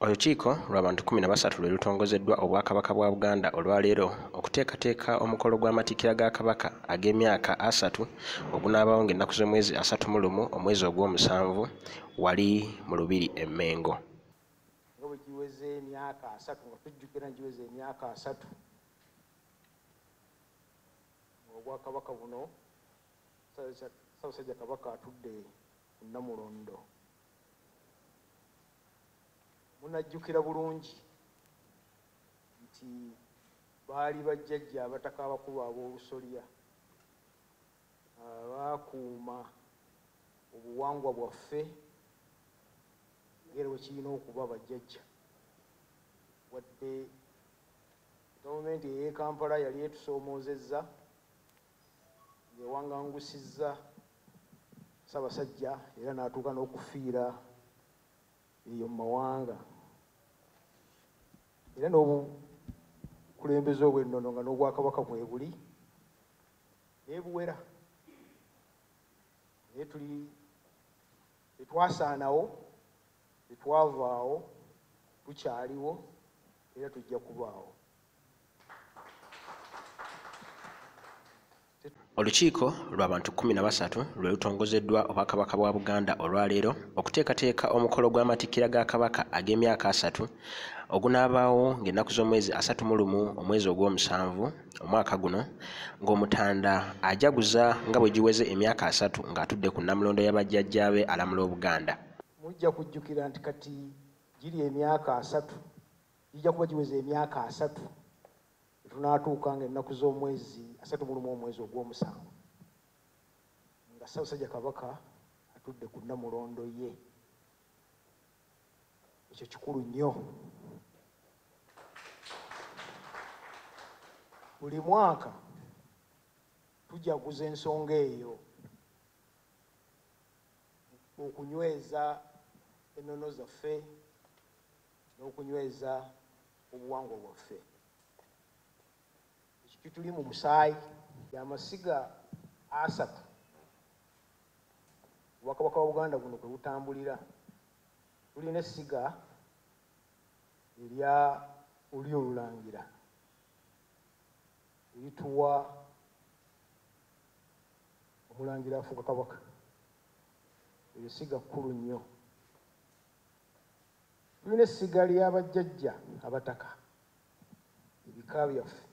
Olukiiko lw'abantu kumi na basatu lwe lutongozeddwa Obwakabaka bwa Buganda olwaleero okuteekateeka omukolo gw'amatikkira ga Kabaka ag'emyaka asatu ogunaabaawo ng'ennaku z'omwezi asatu mu lumu omwezi ogw'omusanvu wali mu Lubiri e Mmengo. Nga bwe giweze emyaka asatu nga tujjukira giweze emyaka asatu Obwakabaka buno Ssaabasajja Kabaka atudde ku Nnamulondo. munajjukira bulungi nti baali bajjajja abataka abakulu ab'olusolya baakuuma obuwangwa bwaffe ngeri wekirina okuba bajjajja wadde gavumenti ey'ekampala yali etusoomoozezza ng'ewangangusizza Ssaabasajja era n'atuuka n'okufiira eyo mu mawanga era n'obukulembeze obw'ennono nga n'obwakabaka mwebuli nebuwera naye tuli tetwasaanawo tetwavaawo tukyaliwo era tujja kubaawo olukiiko lwa bantu kumi na basatu lwe lutongozeddwa obwakabaka bwa buganda olwaleero okuteekateeka omukolo gw'amatikkira ga kabaka ag'emyaka asatu ogunaabaawo ng'ennaku z'omwezi asatu mu lumu omwezi ogw'omusanvu omwaka guno ng'omutanda ajaguza nga bwe giweze emyaka asatu ng'atudde ku nnamulondo y'abajjajjaabe alamula obuganda mujja kujjukira nti kati giri emyaka asatu Gijja kuba giweza emyaka asatu etunaatuuka nga ennaku z'omwezi asatu mulumu omwezi ogw'omusanvu nga Ssaabasajja Kabaka atudde ku nnamulondo ye. Ekyo kikulu nnyo. Buli mwaka tujaguza ensonga eyo okunyweza ennono zaffe n'okunyweza obuwangwa bwaffe ekituli mu musaayi yamasiga asatu obwakabaka wa buganda guno kwe butambulira tulina essiga erya oli olulangira erituwa omulangira afuuka kabaka eryo ssiga kkulu nnyo Tulina essiga lya bajjajja Abataka, ebika byaffe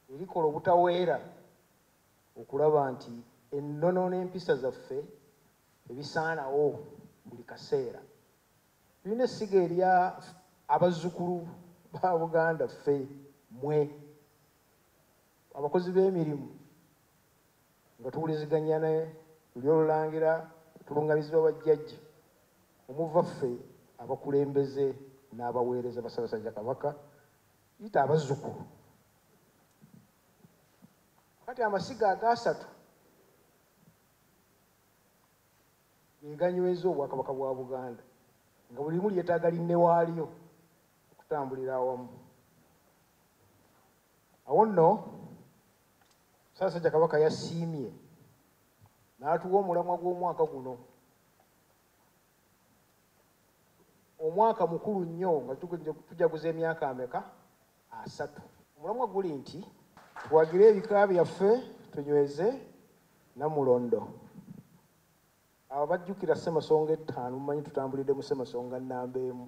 lye likola obutaweera okulaba nti ennono n'empisa zaffe tebisaanawo buli kaseera. Tulina essiga erya abazzukulu ba Buganda ffe, mmwe abakozi b'emirimu Nga tuwuliziganya ne Lulyo Olulangira tulungamizibwa ba Jjajja omuva ffe abakulembeze n'abaweereza ba Ssabasajja Kabaka yita abazzukulu. Kati amasiga agaasatu eganyweza obwakabaka bwa buganda nga buli limu lyetaaga linnewaalyo okutambulira awamu awo nno Ssaasajja Kabaka yasiimye n'atuwa omulamwa gw'omwaka guno omwaka mukulu nnyo nga tujaguza emyaka ameka asatu omulamwa guli nti tuwagire ebika byaffe tunyweze namulondo abo bajjukira ssemasonga ettaano mumanyi tutambulidde mu ssemasonga nnamba emu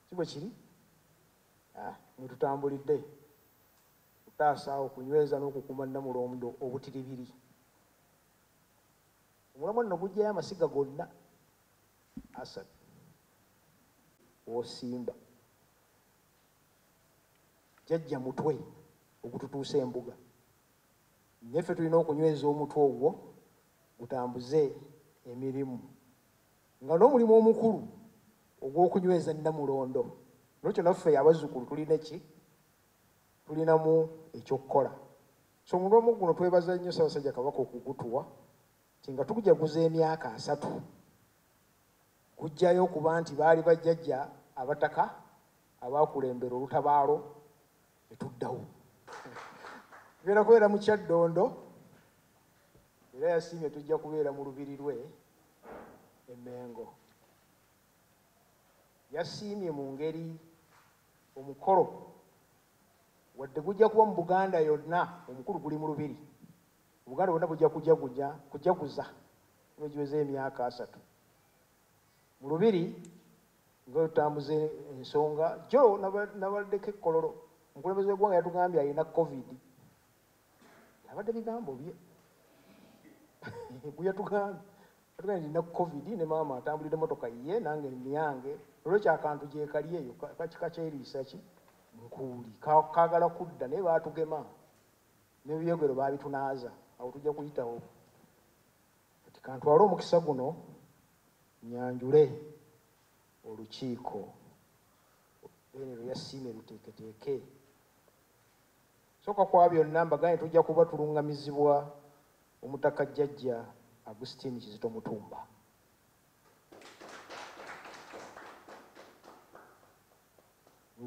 si bwe kiri ah, mwetutambulidde okutaasa, okunyweza n'okukuuma Nnamulondo obutiribiri. Omulamwa nno guggyayo amasiga gonna asatu osimba jajja mutwe ogututuusa embuga neffe tulina okunyweza omutwe ogwo gutambuze emirimu nga n'omulimu omukulu ogw'okunyweza nnamulondo nokyo naffe abazzukulu tulina ki tulinamu ekyokukola so mu lwomu guno twebaza nnyo ssabasajja kabaka okugutuwa ti nga tukujaguza emyaka asatu kujjayo okuba nti baali bajjajja abataka abakulembera olutabaalo etuddawo tugenda kubeera mu kyaddondo era yasiimye tujja kubeera mu lubiri lwe emengo yasiimye mu ngeri Omukolo wadde gujja kuba mu Buganda yonna, omukulu guli mu Lubiri. Obuganda bwonna bujja kujagunya kujaguza nga giweze emyaka asatu mu Lubiri nga otambuze ensonga jo nabaddeko ekkololo. Omukulembeze w'eggwanga yatugambye alina covid abadde bigambo bye bweyatugambye atugambye nina covid ne maama atambulidde motoka ye nange niyange olwekyo akantu gyekali eyo kakikakyeriisa ki nkuuli kagala kudda naye baatugema nebyogero baabitunaaza awo tujja kuyitawo kati kantwale omukisa guno nyanjule olukiiko bene lwe yasiime luteeketeeke Soka kwa byonna mbagane tujja kuba tulungamizibwa omutaka Jjajja Agustine Kizito Mutumba.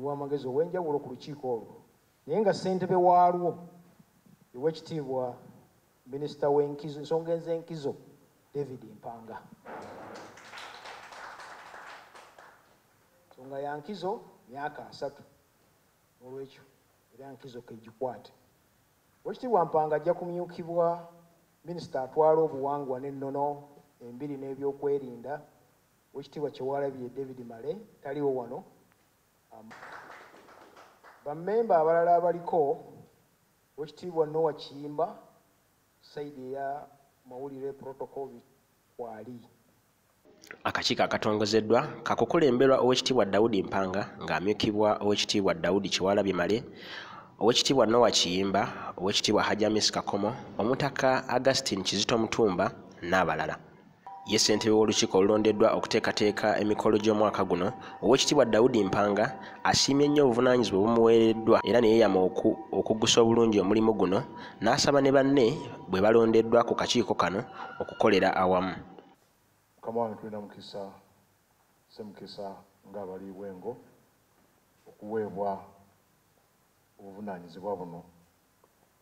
Wamagezi ow'enjawulo ku lukiiko olwo naye nga ssentebe waalwo ew'ekitiibwa minisita w'enkizo ensonga ez'enkizo David Mpanga. Nsonga ya nkizo myaka asatu. Olwekyo era nkizo kegikwate. Owekitiibwa Mpanga ajja kumyukibwa Minisita atwala obuwangwa n'ennono, embiri n'ebyokwerinda, Owekitiibwa Kyewalabye David Male taliwo wano. Ba memba abalala abaliko, Owekitiibwa Noah Kiyimba, side eya mawulire, protocol, kwali. akakiiko akatongozeddwa kakukulemberwa owekitiibwa daudi mpanga ng'amyukibwa owekitiibwa daudi kiwalabye male owekitiibwa nowa kiyimba owekitiibwa hajamis kakomo omutaka augustin kizito mutumba n'abalala ye ssentebe w'olukiiko olulondeddwa okuteekateeka emikolo gy'omwaka guno owekitiibwa daudi mpanga asiimye nnyo obuvunaanyizibwa obumuweereddwa era ne yeeyama okugusa obulungi omulimu guno n'asaba ne banne bwe balondeddwa ku kakiiko kano okukolera awamu mukama wange tulina mukisa semukisa nga abaliibwa engo okuweebwa obuvunaanyizibwa buno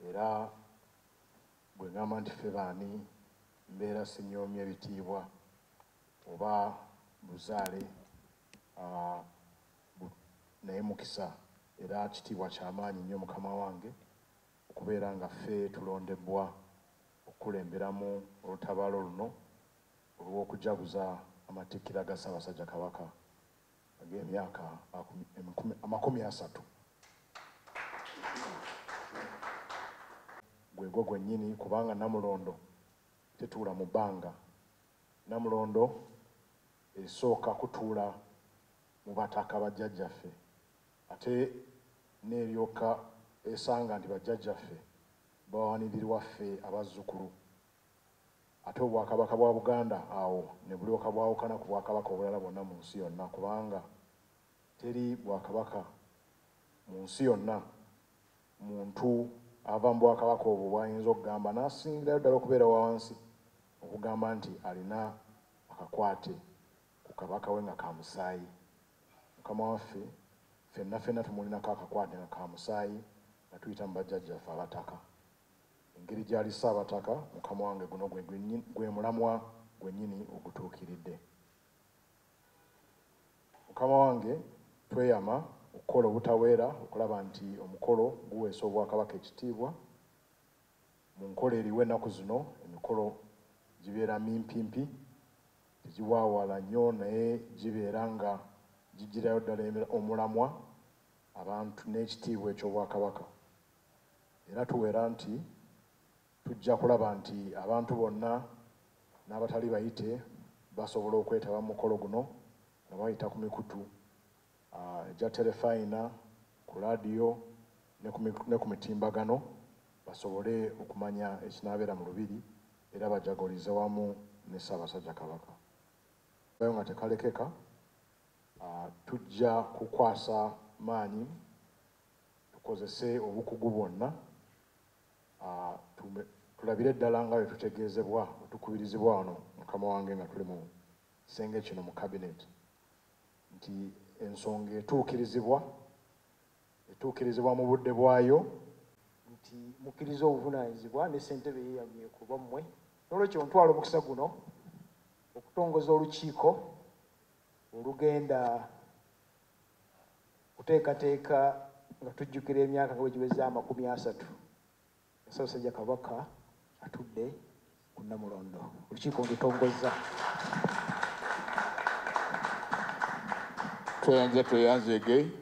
era bwe ngamba nti ffe baani mbeera sinyoomya ebitiibwa oba buzaale ah, naye mukisa era kitiibwa kyamaanyi nnyo mukama wange Okubeera nga ffe tulondebbwa okukulemberamu olutabaalo luno olw'okujaguza amatikkira ga Ssaabasajja Kabaka ag'emyaka amakumi asatu, gwegwo gwennyini kubanga Namulondo tetuula mu bbanga. Namulondo esooka kutuula mu bataka bajjajjaffe Ate n'eryoka esanga nti bajjajjaffe bawanindirwa ffe abazzukulu, ate Obwakabaka bwa Buganda awo ne bulyoka bwawukana ku Bwakabaka obulala bwonna mu nsi yonna kubanga teri Bwakabaka mu nsi yonna muntu ava mu Bwakabaka obwo bw'ayinza okugamba n'asingirayo ddala okubeera wa wansi okugamba nti alina akakwate ku Kabaka we nga ka musaayi. Mukama waffe, ffenna ffenna tumulinako akakwate nga ka musaayi nga tuyita mu bajjajjaffe Abataka. Engeri gy'ali Ssaabataka, Mukama wange, guno gwe, gwe mulamwa gwennyini ogutuukiridde. Mukama wange, tweyama okukola obutaweera okulaba nti omukolo guweesa Obwakabaka ekitiibwa. Mu nkola eriwo ennaku zino, emikolo gibeera mimpimpi. Tegiwaawala nnyo naye gibeera nga giggirayo ddala omulamwa, abantu n'ekitiibwa eky'Obwakabaka. Era tuwera nti tujja kulaba nti abantu bonna n'abatali bayite basobola okwetaba mu mukolo guno nga bayita ku mikutu. egya terefayina, ku laadiyo ne ku mitimbagano basobole okumanya ekinaabeera mu Lubiri era bajagalize wamu ne Ssaabasajja Kabaka. Kayo nga tekalekeka, tujja kukwasa maanyi tukozese obukugu bwonna tulabire ddala nga bwe tutegeezebwa bwe tukubirizibwa wano mukama wange nga tuli mu kisenge kino mu kabineeti nti ensonga etuukirizibwa etuukirizibwa mu budde bwayo nti mukkiriza obuvunaanyizibwa ne ssentebe ye yanywe ku lwammwe n'olwekyo ntwala omukisa guno okutongoza olukiiko olugenda kuteekateeka nga tujjukira emyaka nga bwe giweza amakumi asatu Ssaabasajja Kabaka atudde ku Nnamulondo. Olukiiko ndutongozza. Tweyanza tweyanzege.